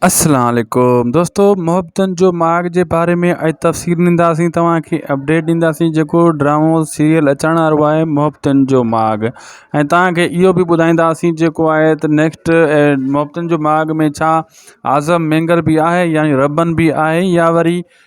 السلام عليڪم دوستو محبتن جو ماڳ جي باري ۾ اڄ تفصيل ڏينداسين توهان کي اپڊيٽ ڏينداسين جيڪو ڊرامو سيريل اچڻ وارو آهي محبتن جو ماڳ ۽ توهان کي اهو بي ٻڌائينداسين جيڪو آهي ته نيڪسٽ محبتن جو ماڳ ۾ ڇا اعظم مينگر بي آهي يعني ربن بي آهي يا وري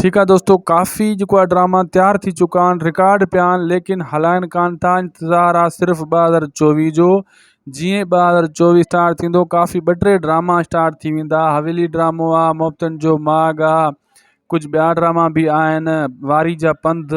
ٺيڪ آ دوستو ڪافي جيڪو آ ڊراما تيار ٿي چڪا آهن رڪارڊ پيا آهن ليڪن هلائن ڪان ٿا انتظار آ صرف ٻه هزار چوويهه جو جيئن ٻه هزار چوويهه اسٽارٽ ٿيندو ڪافي ٻه ٽي ڊراما اسٽارٽ ٿي ويندا حويلي ڊرامو آ محبتن جو ماڳ آ ڪجهه ٻيا ڊراما به آهن واري جا پنڌ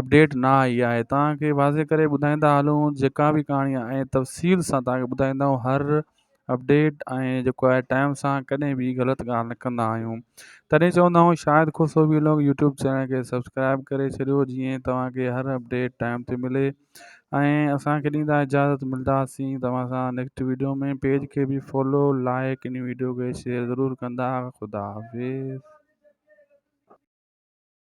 اپڊيٽ نه آئي آهي توهان کي واضح ڪري ٻڌائيندا هلون جيڪا به ڪهاڻي آهي ۽ تفصيل سان توهان کي ٻڌائيندا آهيون هر اپڊيٽ ۽ جيڪو آهي ٽائم سان ڪڏهن به غلط ڳالهه نه ڪندا آهيون تڏهن چوندا آهيون Shahid Khoso vlog YouTube channel کي سبسڪرائب ڪري ڇڏيو جيئن توهان کي هر اپڊيٽ ٽائم تي ملي ۽ اسان کي ڏيندا اجازت ملداسين توهان سان نيڪسٽ ويڊيو ۾ پيج کي به فالو لائق ان ويڊيو کي شيئر ضرور ڪندا خدا حافظ